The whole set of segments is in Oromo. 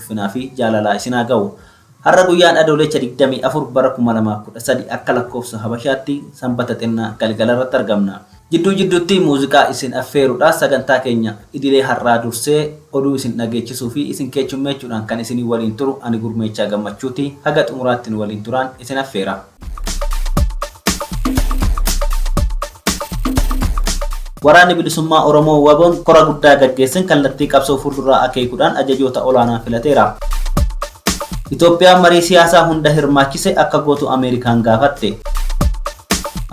ulfinaa fi jaalalaa isin haa gahu. Har'a guyyaan Adooleecha 24 bara 2013 akka lakkoofsa Habashaatti Sanbata xinnaa galgala irratti argamna. Jidduu jidduutti muuziqaa isin affeeruudhaa sagantaa keenya idilee har'aa dursee oduu isin dhageechisuu fi isin keechummeechuudhaan kan isinii waliin turu ani Gurmeechaa Gammachuuti. Haga xumuraatti nu waliin turaan isin affeera. Waraanni Bilisummaa Oromoo Waboon kora guddaa gaggeessin kallattii qabsoo fuulduraa akeekuudhaan ajajoota olaanaa filateera. Itoophiyaan marii siyaasaa hunda hirmaachise akka gootu Ameerikaan gaafatte.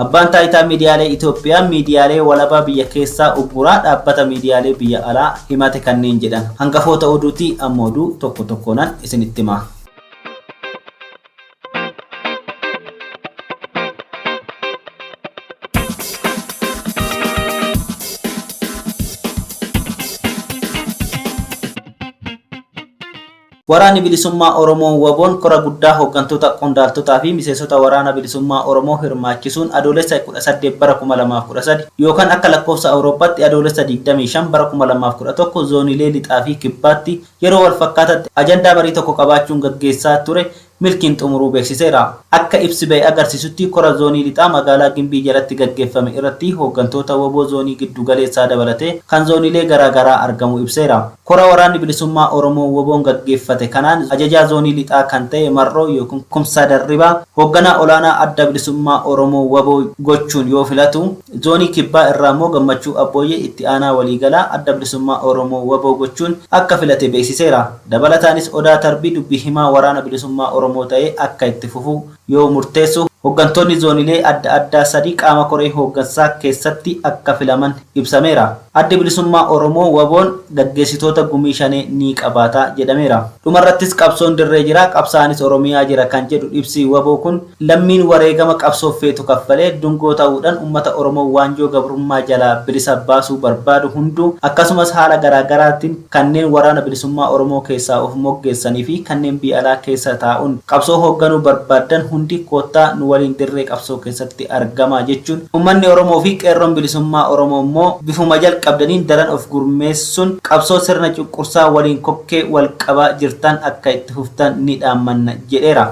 Abbaan taayitaa miidiyaalee Itoophiyaa miidiyaalee walabaa biyya keessaa ugguraa dhaabbata miidiyaalee biyya alaa himate kanneen jedhan hangafoota oduuti amma oduu tokko tokkoonan isinitti hima. Waraanni Bilisummaa Oromoo Waboon kora guddaa hooggantoota qondaaltotaa fi miseensota waraana bilisummaa Oromoo hirmaachisuun adoolessa 18 bara 2013 yookaan akka lakkoofsa Awurooppaatti adoolessa 25 bara 2011 zooniilee lixaa fi kibbaatti yeroo walfakkaataatti ajandaa marii tokko qabaachuun gaggeessaa ture milkiin xumuruu beeksiseera. Akka ibsi ba'e agarsiisutti kora Zoonii Lixaa magaalaa Gimbii jalatti gaggeeffame irratti hooggantoota wbo Zoonii Giddu Galeessaa dabalatee kan Zooniilee garaa garaa argamuu ibseera. Kora Waraanni Bilisummaa Oromoo wboon gaggeeffate kanaan Ajajaa Zoonii Lixaa kan ta'e Marroo ykn Kumsaa Darribaa hoogganaa olaanaa Adda Bilisummaa Oromoo wbo gochuun yoo filatu, Zoonii Kibbaa irraa immoo Gammachuu Abbooyyee itti aanaa waliigalaa Adda Bilisummaa Oromoo, wbo, gochuun akka filate beeksiseera. Dabalataanis Odaa Tarbii dubbi himaa Waraana Bilisummaa Oromoo ta'ee akka itti fufu yoo murteessu, hoggantoonni zoonilee adda addaa sadii qaama koree hooggansaa keessatti akka filaman ibsameera. Addi Bilisummaa Oromoo, Waboon, gaggeessitoota gumii shanee ni qabaata jedhameera. Dhumarrattis qabsoon dirree jira, qabsaa'anis Oromiyaa jira kan jedhu ibsi wbo kun, lammiin wareegama qabsoof feetu kaffalee dungoo ta'uudhan ummata Oromoo waanjoo gabrummaa jalaa bilisa baasuu barbaadu hunduu akkasumas haala garaa garaatiin, kanneen Waraana Bilisummaa Oromoo keessaa of moggeessanii fi kanneen biyya alaa keessa taa'uun qabsoo hoogganuu barbaaddan hundi koottaa nu waliin dirree qabsoo keessatti argamaa jechuun Ummanni Oromoo fi Qeerroon Bilisummaa Oromoo immoo bifuma jalqabdaniin daran of gurmeessuun qabsoo sirna cunqursaa waliin kokkee wal qabaa jirtan akka itti fuftan ni dhaammanna jedheera.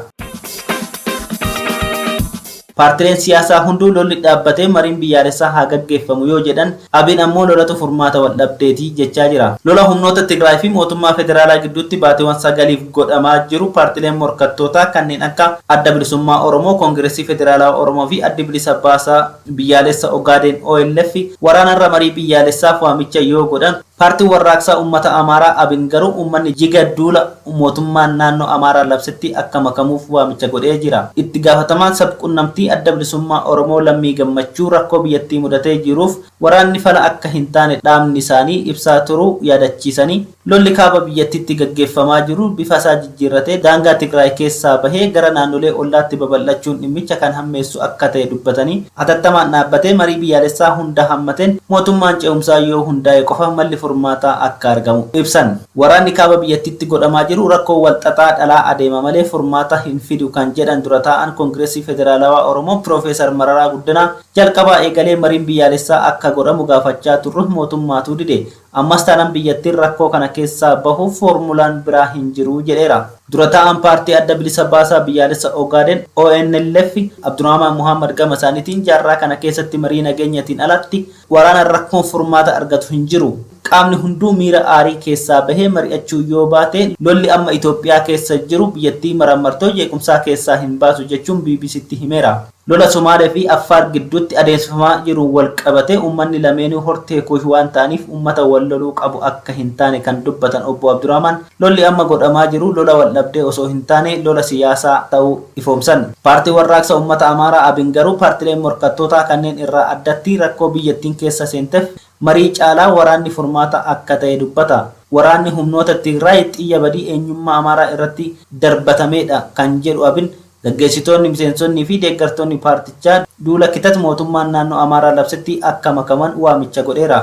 Paartileen siyaasaa hunduu lolli dhaabbatee mariin biyyaalessaa haa gaggeeffamu yoo jedhan, abin ammoo lolatu furmaata waldhabdeeti jechaa jira. Lola humnoota Tigraay fi mootummaa federaalaa gidduutti baatiiwwan sagaliif godhamaa jiru paartileen morkattootaa kanneen akka Adda Bilisummaa Oromoo, Kongiressii Federaalawaa Oromoo fi Addi Bilisa Baasaa Biyyaalessa Ogaadeen, OLF, waraanarra marii biyyaalessaaf waamicha yoo godhan, Paartiin Warraaqsaa Ummata Amaaraa, abin, garuu ummanni jiga duula mootummaan naannoo Amaaraa labsetti akka makamuuf waamicha godhee jira. Itti gaafatamaan sab-qunnamtii Adda Bilisummaa Oromoo Lammii Gammachuu rakkoo biyyattii mudatee jiruuf waraanni fala akka hin taane dhaabni isaanii ibsaa turuu yaadachiisanii, lolli kaaba biyyattiitti gaggeeffamaa jiru bifasaa jijjiirratee daangaa Tigraay keessaa bahee gara naannolee ollaatti babal'achuun dhimmicha kan hammeessu akka ta'e dubbatanii, hatattamaan dhaabbatee marii biyyaalessaa hunda hammateen mootummaan ce'umsaa yoo hundaa'e qofa malli furmaataa akka argamu ibsan. Waraanni kaaba biyyattiitti godhamaa jiru rakkoo wal xaxaa dhalaa adeema malee furmaata hin fidu kan jedhan dura taa'aan Kongirasii Federaalawaa Oromoo Piroofeesar Mararaa Guddanaa, jalqabaa eegalee mariin biyyaalessaa akka godhamu gaafachaa turrus mootummaatu dide, Ammas taanaan biyyattiin rakkoo kana keessaa bahuuf foormulaan biraa hin jiru jedheera. Dura taa'aan Paartii Adda Bilisa Baasaa Biyyaalessa Ogaaden, ONLF, Abdurahmaan Mohaammad gama isaaniitiin jaarraa kana keessatti marii nageenyatiin alatti waraanaan rakkoon furmaata argatu hin jiru. Qaamni hunduu miira aarii keessaa bahee mari'achuu yoo baate lolli amma Itoophiyaa keessa jiru biyyattii maraan martoo jeequmsaa keessaa hin baasu jechuun BBC'tti himeera. Lola Somaalee fi Affaar gidduutti adeemsifamaa jiruun walqabatee ummanni lameenuu hortee Kuush waan ta'aniif ummata wal loluu qabu akka hin taane kan dubbatan Obbo Abdurahmaan, lolli amma godhamaa jiru lola waldhabdee osoo hin taane lola siyaasaa ta'uu ifoomsan. Paartiin Warraaqsa Ummata Amaaraa Abin garuu paartileen morkattootaa kanneen irraa addatti rakkoo biyyattiin keessa seentef marii caalaa waraanni furmaata akka ta'e dubbata. Waraanni humnoota Tigraay xiyya badii eenyummaa Amaaraa irratti darbatameedha kan jedhu Abin, Gaggeessitoonni, miseensonni fi deeggartoonni paartichaa duula kitat mootummaan naannoo Amaaraa labsetti akka makaman waamicha godheera.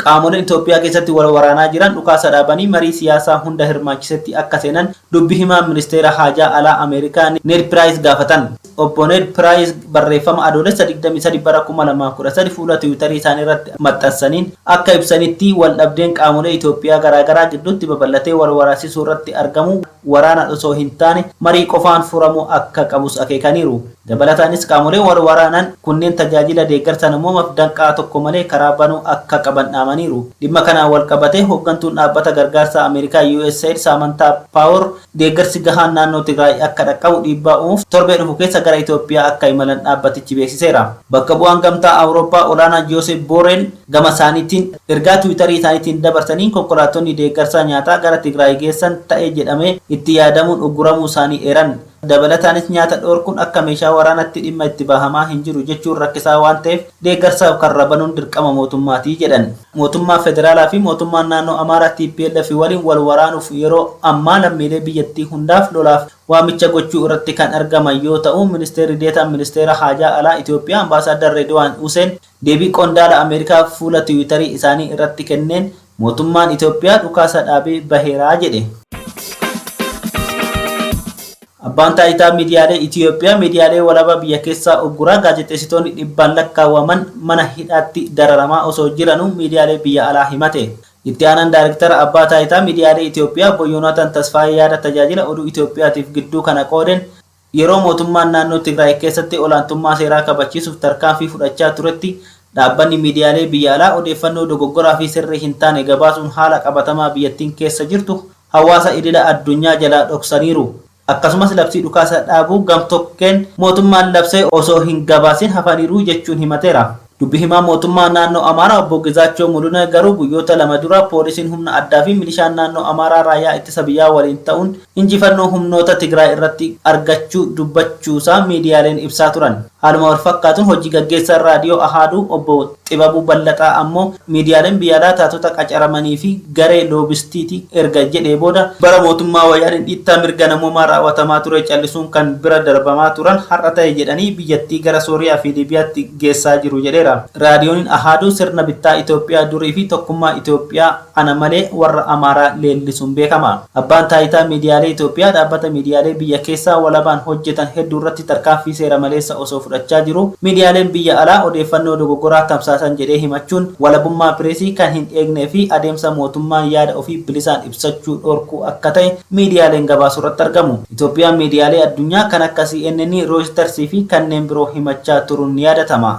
Qaamoleen Itoophiyaa keessatti wal waraanaa jiran dhukaasa dhaabanii marii siyaasaa hunda hirmaachisetti akka seenan dubbi himaan ministeera haajaa alaa Ameerikaa Need Piraayis gaafatan. Obbo Need Piraayis barreeffama Adoolessa 23 bara 2013 fuula Tiwiitarii isaanii irratti maxxansaniin akka ibsanitti, waldhabdeen qaamolee Itoophiyaa garaagaraa gidduutti babal'atee wal waraasisuu irratti argamu waraanaan osoo hin taane marii qofaan furamuu akka qabus akeekaniiru. Dabalataanis qaamoleen wal waraanan kunneen tajaajila deeggarsa namoomaaf danqaa tokko malee karaa banuu akka qaban dhaamaniiru. Dhimma kanaan wal qabatee hooggantuun dhaabbata gargaarsaa Ameerikaa USAID Saamantaa Paawor, Deeggarsi gahaan naannoo Tigraay akka dhaqqabu dhiibbaa uumuuf torbee dhufu keessa gara Itoophiyaa akka imalan dhaabbatichi beeksiseera. Bakka bu'aan Gamtaa Awurooppaa olaanaa Jooseep Booreel gama isaaniitiin ergaa Tiwiitarii isaaniitiin dabarsaniin konkolaattonni deeggarsaa nyaataa gara Tigraay geessan ta'e jedhamee itti yaadamuun ugguramuu isaanii eeran. Dabalataanis nyaata dhoorkuun akka meeshaa waraanatti dhimma itti bahamaa hin jiru jechuun rakkisaa waan ta'eef deeggarsaaf karra banuun dirqama mootummaati jedhan. Mootummaan Federaalaa fi Mootummaan Naannoo Amaaraa tplf waliin wal waraanuuf yeroo ammaa lammiilee biyyattii hundaaf lolaaf waamicha gochuu irratti kan argaman yoo ta'u, Ministeerri Deetaan Ministeera Haajaa Alaa Itoophiyaa Ambaasaaddar Reedwaan Huseen deebii qondaala Ameerikaa fuula Tiwiitarii isaanii irratti kenneen, Mootummaan Itoophiyaa dhukaasa dhaabee baheera jedhe. Abbaan Taayitaa Miidiyaalee Itoophiyaa miidiyaalee walabaa biyya keessaa ugguraa gaazexeessitoonni dhibbaan lakkaawwaman mana hidhaatti dararamaa osoo jiranuu miidiyaalee biyya alaa himate. Itti aanaan Daayrektara Abbaa Taayitaa Miidiyaalee Itoophiyaa Obbo Yoonaatan Tasfaayee yaada Tajaajila Oduu Itoophiyaatiif gidduu kana qoodeen, Yeroo mootummaan naannoo Tigraay keessatti olaantummaa seeraa kabachiisuuf tarkaanfii fudhachaa turetti dhaabbanni miidiyaalee biyya alaa odeeffannoo dogoggoraa fi sirrii hin taane gabaasuun haala qabatamaa biyyattiin keessa jirtu hawaasa idila addunyaa jalaa dhoksaniiru. Akkasumas labsii dhukaasa dhaabuu gam-tokkeen mootummaan labse osoo hin gabaasin hafaniiru jechuun himateera. Dubbi himaan mootummaa naannoo Amaaraa obbo Gizaachoo Muluneh garuu guyyoota lama dura poolisiin humna addaa fi milishaan naannoo Amaaraa raayyaa ittisa biyyaa waliin ta'uun injifannoo humnoota Tigraay irratti argachuu dubbachuusaa miidiyaaleen ibsaa turan. Haaluma walfakkaatuun hojii gaggeessaan Raadiyoo Ahaaduu obbo Xibabuu Ballaxaa ammoo miidiyaaleen biyya alaa taatota qacaramanii fi garee loobistiiti erga jedhee booda, bara mootummaa Wayyaaneen dhiittaa mirga namoomaa raawwatamaa ture callisuun kan bira darbamaa turan har'a ta'e jedhanii biyyattii gara Sooriyaa fi Liibiyaatti geessaa jiru jedheera. Raadiyooniin Ahaaduu sirna bittaa Itoophiyaa durii fi tokkummaa Itoophiyaa ana malee warra Amaaraa leellisuun beekama. Abbaan Taayitaa Miidiyaalee Itoophiyaa dhaabbata miidiyaalee biyya keessaa walabaan hojjetan hedduu irratti tarkaanfii seera maleessa osoo fudhachaa jiruu miidiyaaleen biyya alaa odeeffannoo dogoggoraa tamsaasan jedhee himachuun walabummaa pireesii kan hin eegnee fi adeemsa mootummaa yaada ofii bilisaan ibsachuu dhorkuu akka ta'e miidiyaaleen gabaasu irratti argamu. Itoophiyaan miidiyaalee addunyaa kan akka CNN, Rooyitars fi kanneen biroo himachaa turuun ni yaadatama.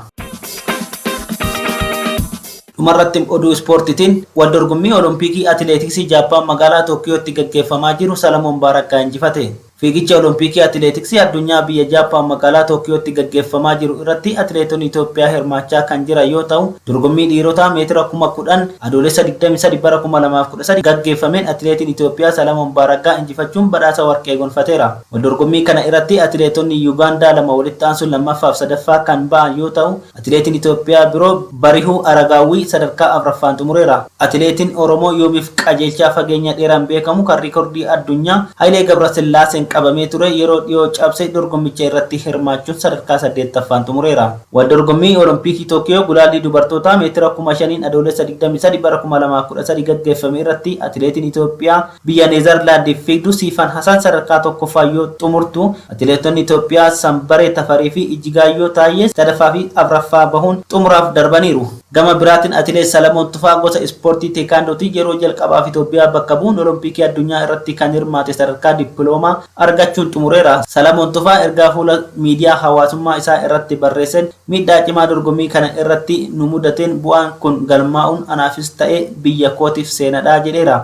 Dhumarratti oduu ispoortiitiin wal dorgommii Olompikii Atileetiksii Jaappaan magaalaa Tookiyootti gaggeeffamaa jiru Salamoon Baarakkaa injifate. Fiigicha Olompikii Atileetiksii addunyaa biyya Jaappaan magaalaa Tookiyootti gaggeeffamaa jiru irratti atileetonni Itoophiyaa hirmaachaa kan jiran yoo ta'u, Dorgommii dhiirotaa meetira kuma 10 Adoolessa 23 bara 2013 gaggeeffameen atileetiin Itoophiyaa Salamoon Baaraggaa injifachuun badhaasa warqee gonfateera. Wal dorgommii kana irratti atileetonni Yugaandaa lama walitti aansuun 2ffaaf 3ffaa kan ba'an yoo ta'u, atileetiin Itoophiyaa biroo Barihuu Aragaawwii sadarkaa 4ffaan xumureera. Atileetiin Oromoo Yoomiif Qajeelchaa fageenya dheeraan beekamu kan riikordii addunyaa Hayilee Gabrasillaaseen qabamee ture yeroo dhiyoo cabse dorgommicha irratti hirmaachuun sadarkaa 8ffaan xumureera. Waldorgommii Olompikii Tookiyoo gulaallii dubartootaa meetira kuma shaniin Adoolessa 23 bara 2013 gaggeeffame irratti atileetiin Itoophiyaa biyya Neezarlaandiif fiigdu Siifan Hasan sadarkaa 1ffaan yoo xumurtu, atileetonni Itoophiyaa Sanbaree Tafarii fi Ijjigaayyoo Taayyee 3ffaa fi 4ffaa bahuun xumuraaf darbaniiru. Gama biraatiin Atileet Salamoon Tufaa gosa ispoortii Teekaandootiin yeroo jalqabaaf Itoophiyaa bakka bu'uun Olompikii Addunyaa irratti kan hirmaate sadarkaa dippiloomaa argachuun xumureera. Salamoon Tufaa ergaa fuula miidiyaa hawaasummaa isaa irratti barreesseen miidhaa cimaa dorgommii kana irratti nu mudateen bu'aan kun galmaa'uun anaafis ta'e biyya kootiif seenadha jedheera.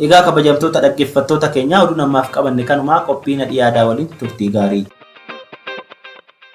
Egaa kabajamtoota dhaggeeffattoota keenyaa oduun ammaaf qabanne kanuma qophii nadhii aadaa waliin turtii gaarii.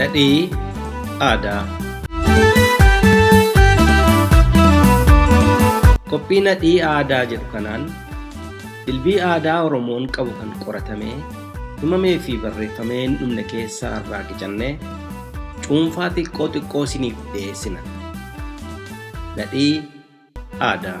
Nadhii aadaa. Qophii nadhii aadaa jedhu kanaan dilbii aadaa Oromoon qabu kan qoratamee himamee fi barreeffamee hin dhumne keessaa irraa qicannee cuunfaa xiqqoo xiqqoo isiniif dhiyeessina. Nadhii Aadaa.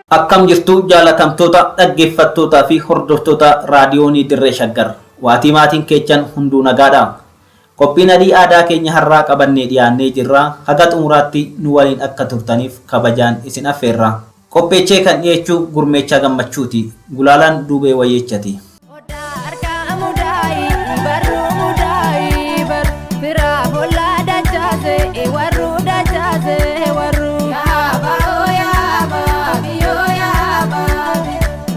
Akkam jirtu jaalatamtoota dhaggeeffattootaa fi hordoftoota raadiyoonii dirree shaggar waatii maatiin keechan hunduu nagaadha. Qophiin Adii Aadaa keenya har'aa qabannee dhiyaannee jirra. Haga xumuraatti nu waliin akka turtaniif kabajaan isin affeerra. Qopheechee kan dhiyeechu Gurmeechaa Gammachuuti. Gulaalaan Duubee Wayyeechati. Odaa harkaa mudaayi barruu mudaayi bar firaa bollaa dachaase warruu dachaase warruu. Yaaba oo yaaba biyoo yaaba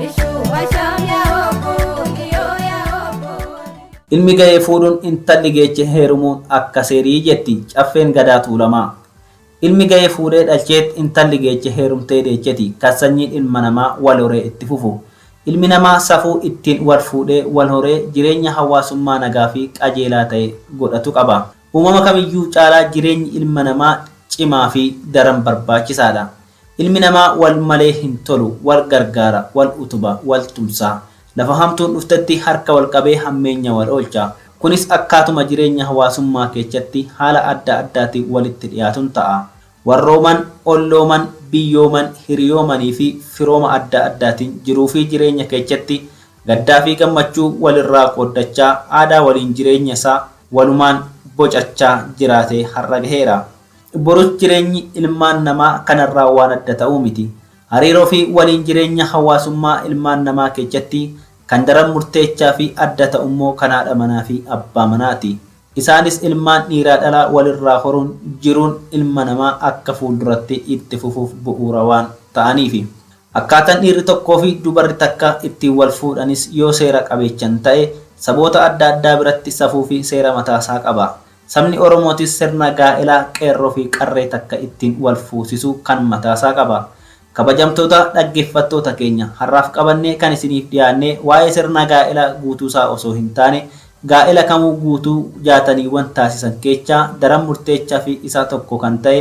ishuu bashaam yaa obbo kiyoo yaa obbo. Ilmi ga'e fuudhuun intalli geeche heerumuun akka seerii jetti Caffeen Gadaa Tuulamaa. Ilmi ga'e fuudhee dhalcheet intalli geeche heerumtee deecheti kan sanyiin ilma namaa wal horee itti fufu. Ilmi namaa safuu ittiin wal fuudhee, wal horee jireenya hawaasummaa nagaa fi qajeelaa ta'e godhatu qaba. Uumama kamiyyuu caalaa jireenyi ilma namaa cimaa fi daran barbaachisaadha. Ilmi namaa wal malee hin tolu, wal gargaara, wal utuba, wal tumsa. Lafa hamtuun dhuftetti harka wal qabee hammeenya wal oolcha. Kunis akkaatuma jireenya hawaasummaa keechatti haala adda addaatiin walitti dhiyaatun ta'a. Warrooman, ollooman, biyyooman, hiriyoomanii fi firooma adda addaatiin jiruu fi jireenya keechatti gaddaa fi gammachuu wal irraa qooddachaa aadaa waliin jireenya isaa walumaan bocachaa jiraatee har'a gaheera. Borus jireenyi ilmaan namaa kanarraa waan adda ta'uu miti. Hariiroo fi waliin jireenya hawaasummaa ilmaan namaa keechatti kan daran murteechaa fi adda ta'u immoo kan haadha manaa fi abbaa manaa ti. Isaanis ilmaan dhiiraa dhalaa walirraa horuun jiruun ilma namaa akka fuulduratti itti fufuuf bu'uura waan ta'aniifi. Akkaataan dhiirri tokkoo fi dubarri takka ittiin wal fuudhanis yoo seera qabeechan ta'e saboota adda addaa biratti safuu fi seera mataasaa qaba. Sabni Oromootis sirna gaa'ela qeerroofi qarree takka ittiin wal fuusisu kan mataasaa qaba. Kabajamtoota dhaggeeffattoota keenya, har'aaf qabannee kan isiniif dhiyaanne waa'ee sirna gaa'ela guutuusaa osoo hin taane, gaa'ela kamuu guutuu jaataniiwwan taasisan keechaa daran murteechafi isaa tokko kan ta'e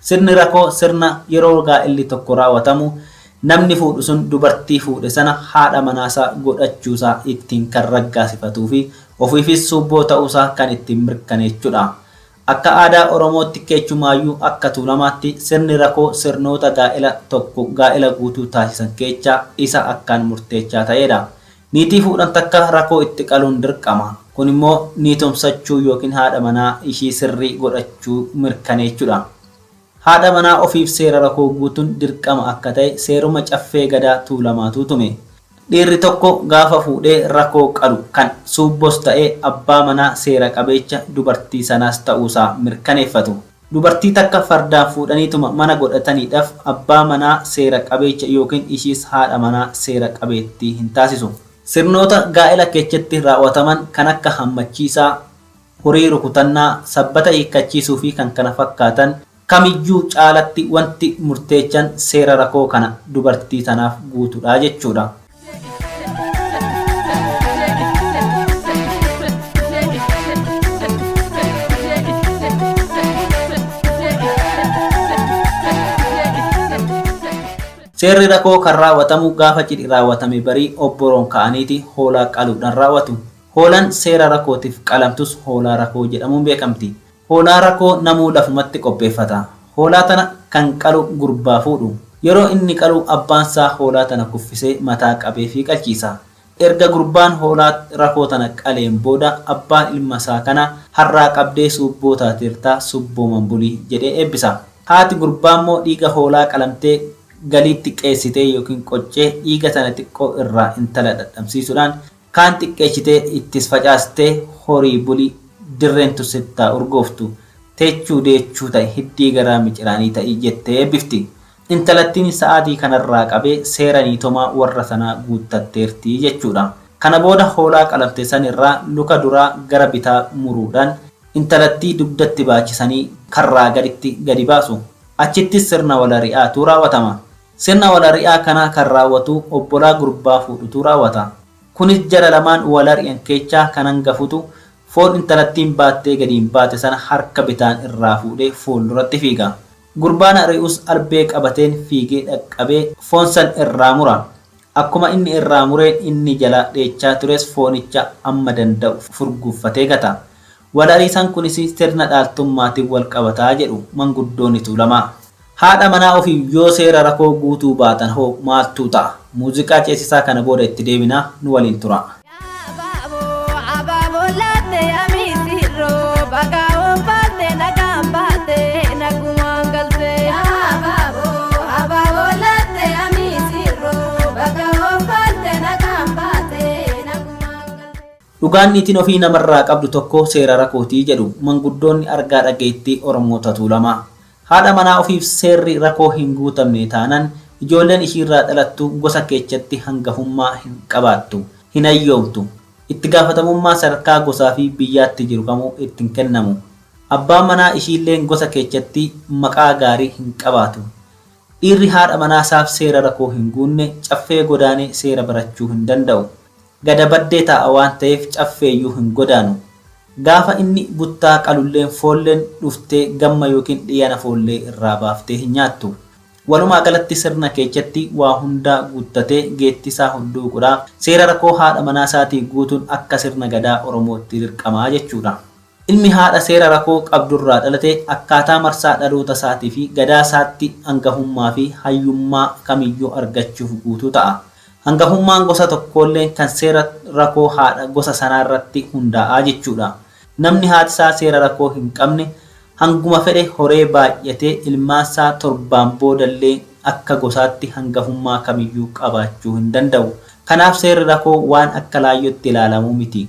Sirni rakoo sirna yeroo gaa'elli tokko raawatamu namni fuudhu sun dubartii fuudhe sana haadha manaasaa godhachuusaa ittiin kan raggaasifatuufi ofiifis suubboo ta'uusaa kan ittiin mirkaneechudha. Akka aadaa Oromootti keechumaayyuu akka Tuulamaatti sirni rakoo sirnoota gaa'ela tokko gaa'ela guutuu taasisan keechaa isa akkaan murteechaa ta'eedha. Niitii fuudhan takka rakoo itti qaluun dirqama. Kun immoo niitomsachuu ykn haadha manaa ishii sirrii godhachuu mirkaneechudha. Haadha manaa ofiif seera rakoo guutun dirqama akka ta'e seeruma Caffee Gadaa Tuulamaatu tume. Dhiirri tokko gaafa fuudhee rakoo qalu kan suubbos ta'ee abbaa manaa seera qabeecha dubartii sanaas ta'uusaa mirkaneeffatu. Dubartii takka fardaan fuudhaniituma mana godhataniidhaf abbaa manaa seera qabeecha ykn ishiis haadha manaa seera qabeettii hin taasisu. Sirnoota gaa'ela keechatti raaw'ataman kan akka hammachiisaa, horii rukutannaa, sabbata hiikkachiisuu fi kkf kamiyyuu caalatti wanti murteechan seera rakoo kana dubartii tanaaf guutudha jechuudha. Seerri rakoo kan raawwatamu gaafa cidhi raawwatame barii obboroon ka'aniiti hoolaa qaluudhaan raawwatu. Hoolaan seera rakootiif qalamtus hoolaa rakoo jedhamuun beekamti. Hoolaa rakoo namuu lafumatti qopheeffata. Hoolaa tana kan qalu gurbaa fuudhu. Yeroo inni qalu abbaan saa hoolaa tana kuffisee mataa qabeefii qalchiisa. Erga gurbaan hoolaa rakoo tana qaleen booda abbaan ilma saa kana har'aa qabdee suubboo taateerta subbooman buli jedhee eebbisa. Haati gurbaammoo dhiiga hoolaa qalamtee galiitti qeessitee ykn qoccee dhiiga tana xiqqoo irraa intala dhadhamsiisuudhaan Kaan xiqqeechitee ittis facaastee horii buli dirreen tun sitti haa urgooftu. Teechuu deechuu ta'i hiddii garaa miciraanii ta'i jettee eebbifti. Intalattiin sa'aatii kanarraa qabee seera niitomaa warra sanaa guuttatteerti jechuudha. Kana booda hoolaa qalamte sanirraa luka duraa gara bitaa muruudhaan intalattii dugdatti baachisanii karraa gaditti gadi baasu. Achittis sirna walari'aatu raawwatama. Sirna wal ari'aa kanaa kan raawwatuu obbolaa gurbaa fuudhutuu raawwata. Kunis jara lamaan wal ari'an keechaa kan hangafutu foon intalattiin baattee gadiin baate sana harka bitaan irraa fuudhee fuulduratti fiiga. Gurbaan ari'us albee qabateen fiigee dhaqqabee foon san irraa mura. Akkuma inni irraa mureen inni jalaa dheechaa tures foonicha amma danda'u furguuffatee gata. Walariisaan kunis sirna dhaaltummaatiin walqabata jedhu manguddoonni Tuulamaa. Haadha manaa ofiif yoo seera rakoo guutuu baatan hoo maaltuu ta'a? Muuziqaa ceesisaa kana booda itti deebina nu waliin turaa. Dhugaan niitiin ofii namarraa qabdu tokko seera rakooti jedhu manguddoonni argaa dhageettii Oromoota Tuulamaa. Haadha manaa ofiif seerri rakoo hin guutamne taanan ijoolleen ishiirraa dhalattu gosa keechatti hangafummaa hin qabaattu, hin hayyoomtu. Itti gaafatamummaa sadarkaa gosaa fi biyyaatti jiru kamuu itti hin kennamu. Abbaan manaa ishiilleen gosa keechatti maqaa gaarii hin qabaatu. Dhiirri haadha manaa saaf seera rakoo hin guunne caffee godaanee seera barachuu hin danda'u. Gada baddee taa'a waan ta'eef caffeeyyuu hin godaanu. Gaafa inni buttaa qalulleen foolleen dhuftee gamma ykn dhiiyana foollee irraa baaftee hin nyaattu. Walumaa galatti sirna keechatti waa hundaa guuttatee geettisaa hudduuqudha. Seera rakoo haadha manaa isaatii guutuun akka sirna gadaa Oromootti dirqama jechuudha. Ilmi haadha seera rakoo qabdurraa dhalate akkaataa marsaa dhaloota isaatiifi gadaa isaatti angahummaafi hayyummaa kamiyyuu argachuuf guutuu ta'a. Angahummaan gosa tokkoolleen kan seera rakoo haadha gosa sanaarratti hundaa'a jechuudha. Namni haati isaa seera rakoo hin qabne hanguma fedhe horee baay'atee ilmaan isaa torbaan boodallee akka gosaatti hangahummaa kamiyyuu qabaachuu hin danda'u. Kanaaf seerri rakoo waan akka laayyootti ilaalamuu miti.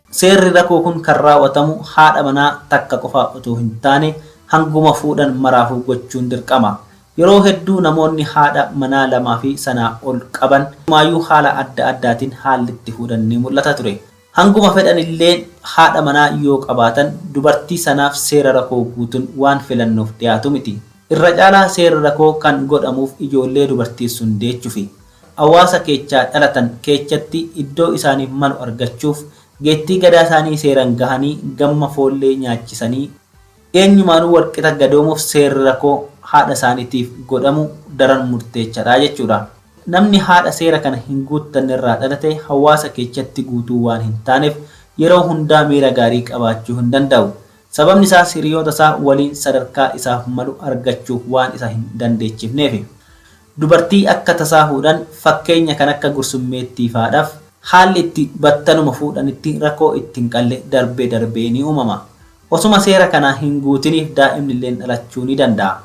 Seerri rakoo kun kan raaw'atamu haadha manaa takka qofaa utuu hin taane hanguma fuudhan maraafuu gochuun dirqama. Yeroo hedduu namoonni haadha manaa lamaa fi sanaa ol qaban inumaayyuu haala adda addaatiin haalli itti fuudhan ni mul'ata ture. Hanguma fedhan illee haadha manaa yoo qabaatan dubartii sanaaf seera rakoo guutun waan filannoof dhiyaatu miti. Irra caalaa seerri rakoo kan godhamuuf ijoollee dubartiin sun deechufi. Hawaasa keechaa dhalatan keechatti iddoo isaaniif malu argachuuf geettii gadaa isaanii seeran gahanii gamma foollee nyaachisanii eenyumaanuu walqixa gadoomuuf seerri rakoo haadha isaaniitiif godhamu daran murteechadha jechuudha. Namni haadha seera kana hin guuttanne irraa dhalate hawaasa keechatti guutuu waan hin taanef yeroo hundaa miira gaarii qabaachuu hin danda'u. Sababni isaas hiriyoota isaa waliin sadarkaa isaaf malu argachuuf waan isa hin dandeechifneefi. Dubartii akka tasaa fuudhan fakkeenya kan akka gursummeettii faadhaf haalli itti battaluma fuudhanitti rakoo itti hin qalle darbee darbee ni uumama. Osuma seera kana hin guutiniif daa'imnilleen dhalachuu ni danda'a.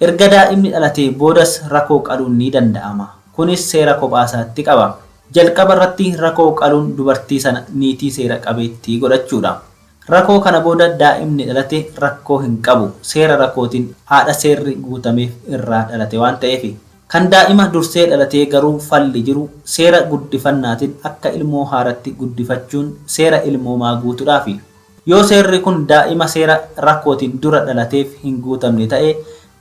Erga daa'imni dhalatee boodas rakoo qaluun ni danda'ama. Kunis seera kophaasaatti qaba. Jalqabarratti rakoo qaluun dubartii sana niitii seera qabeettii godhachuudha. Rakoo kana booda daa'imni dhalate rakkoo hin qabu. Seera rakootiin haadha seerri guutameef irraa dhalate waan ta'eefi. Kan daa'ima dursee dhalatee garuu falli jiru seera guddifannaatiin akka ilmoo haaratti guddifachuun seera ilmoomaa guutudhaafi. Yoo seerri kun daa'ima seera rakootiin dura dhalateef hin guutamne ta'e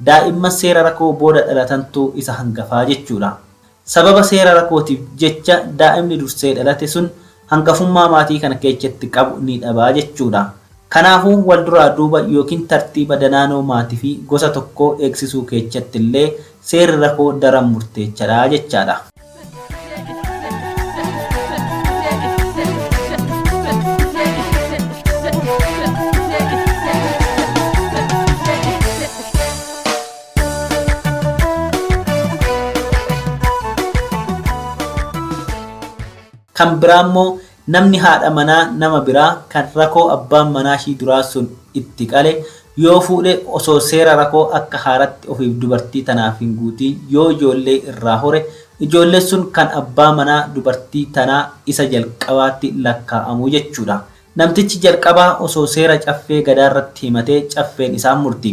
daa'imman seera rakoo booda dhalatantu isa hangafaa jechuudha. Sababa seera rakootiif jecha daa'imni dursee dhalate sun hangafummaa maatii kana keechatti qabu ni dhaba jechuu dha. Kanaafuu wal duraa duuba ykn tartiiba danaanoo maati fi gosa tokkoo eegsisuu keechatti illee seerri rakoo daran murteecha dha jechaa dha. Kan biraa immoo namni haadha manaa nama biraa kan rakoo abbaan manaa ishii duraa sun itti qale yoo fuudhe osoo seera rakoo akka haaratti ofiif dubartii tanaaf hin guutiin yoo ijoollee irraa hore ijoolleen sun kan abbaa manaa dubartii tanaa isa jalqabaatti lakkaa'amu jechuudha. Namtichi jalqabaa osoo seera caffee gadaarratti himatee caffeen isaan murti.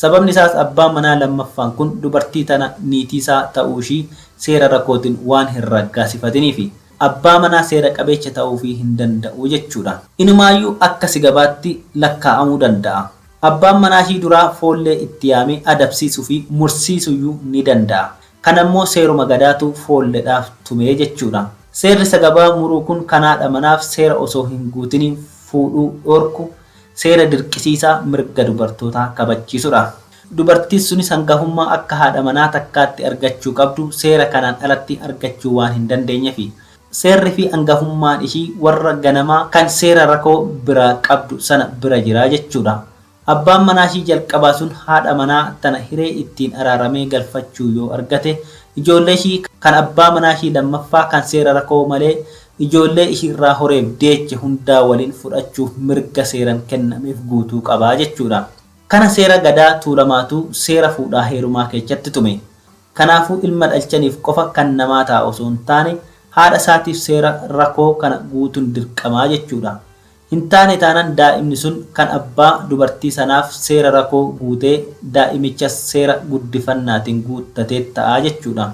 Sababni isaas abbaan manaa lammaffaan kun dubartii tana niitii isaa ta'uu ishii seera rakootin waan hin raggaasifatiniifi. Abbaa manaa seera qabeecha ta'uufii hin danda'u jechuudha. Inumaayyuu akka sigabaatti lakkaa'amuu danda'a. Abbaan manaa ishii duraa foollee itti yaamee adabsiisuufi mursiisuyyuu ni danda'a. Kana immoo seeruma gadaatu foolledhaaf tume jechuudha. Seerri sagabaa muruu kun kan haadha manaaf seera osoo hin guutiniin fuudhuu dhoorku seera dirqisiisaa mirga dubartootaa kabachiisudha. Dubartiin sunis hangafummaa akka haadha manaa takkaatti argachuu qabdu seera kanaan alatti argachuu waan hin dandeenyefi. Seerri fi angafummaan ishii warra ganamaa kan seera rakoo biraa qabdu sana bira jira jechuudha. Abbaan manaa ishii jalqabaa sun haadha manaa tana hiree ittiin araaramee galfachuu yoo argate, ijoollee ishii kan abbaa manaa ishii lammaffaa kan seera rakoo malee ijoollee ishiirraa horeef deeche hundaa waliin fudhachuuf mirga seeran kennameef guutuu qaba jechuudha. Kana seera Gadaa Tuulamaatu seera fuudhaa heerumaa keechatti tume. Kanaafuu ilma dhalchaniif qofa kan namaa ta'a osoo hin taane haadha isaatiif seera rakoo kana guutun dirqamaa jechuudha. Hin taane taanan daa'imni sun kan abbaa dubartii sanaaf seera rakoo guutee daa'imichas seera guddifannaatiin guuttateet ta'a jechuudha.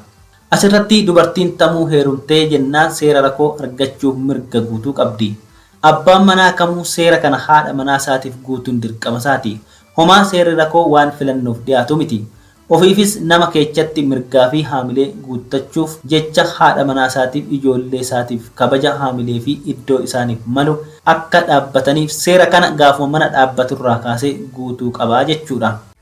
As irratti dubartiin tamuu heerumtee jennaan seera rakoo argachuuf mirga guutuu qabdi. Abbaan manaa kamuu seera kana haadha manaa isaatiif guutuun dirqama isaati. Homaa seerri rakoo waan filannoof dhiyaatu miti. Ofiifis nama keechatti mirgaa fi haamilee guuttachuuf jecha haadha manaa isaatiif ijoollee isaatiif kabaja haamilee fi iddoo isaaniif malu akka dhaabbataniif seera kana gaafuma mana dhaabbatu irraa kaasee guutuu qaba jechuu dha.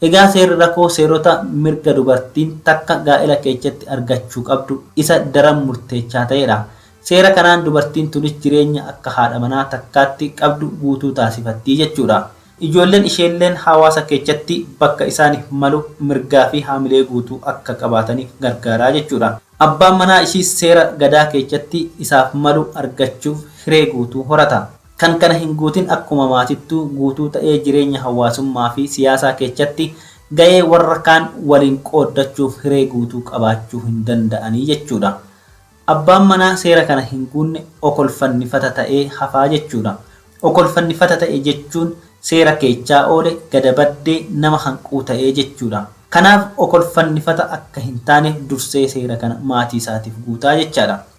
Egaa seerri rakoo seerota mirga dubartiin takka gaa'ela keechatti argachuu qabdu isa daran murteechaa ta'eedha. Seera kanaan dubartiin tunis jireenya akka haadha manaa takkaatti qabdu guutuu taasifattii jechuudha. Ijoolleen isheelleen haawaasa keechatti bakka isaanif malu mirgaa fi haamilee guutuu akka qabaatanif gargaaraa jechuudha. Abbaan manaa ishiis seera gadaa keechatti isaaf malu argachuuf hiree guutuu horata. Kan kana hin guutin akkuma maatittuu guutuu ta'ee jireenya hawaasummaa fi siyaasaa keechatti ga'ee warra kaan waliin qooddachuuf hiree guutuu qabaachuu hin danda'anii jechuu dha. Abbaan manaa seera kana hin guunne okolfannifata ta'ee hafaa jechuu dha. Okolfannifata ta'e jechuun seera keechaa oole, gada baddee, nama hanquu ta'ee jechuu dha. Kanaaf okolfannifata akka hin taaneef dursee seera kana maatii isaatiif guutaa jechaa dha.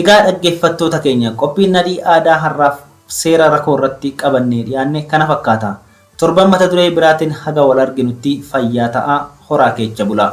Egaa dhaggeeffattoota keenya qophiin Nadhii Aadaa har'aaf seera rakoo irratti qabannee dhiyaanne kana fakkaata. Torban mata duree biraatiin haga wal arginutti fayyaa ta'aa horaa keecha bulaa.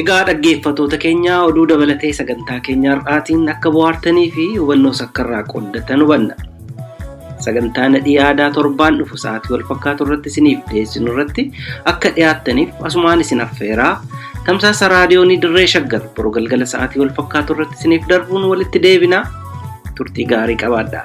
Egaa dhaggeeffatoota keenya oduu dabalatee sagantaa keenya har'aatiin akka bohaartanii fi hubannoos akka irraa qooddatan hubanna. Sagantaa nadhii aadaa torbaan dhufu sa'aatii wal fakkaatu irratti isiniif dhiyeessinu irratti akka dhiyaattaniif asumaan isin affeeraa tamsaasa raadiyoonii dirree shaggar boruu galgala sa'aatii wal fakkaatu irratti isiniif darbuun walitti deebinaa turtii gaarii qabaadhaa.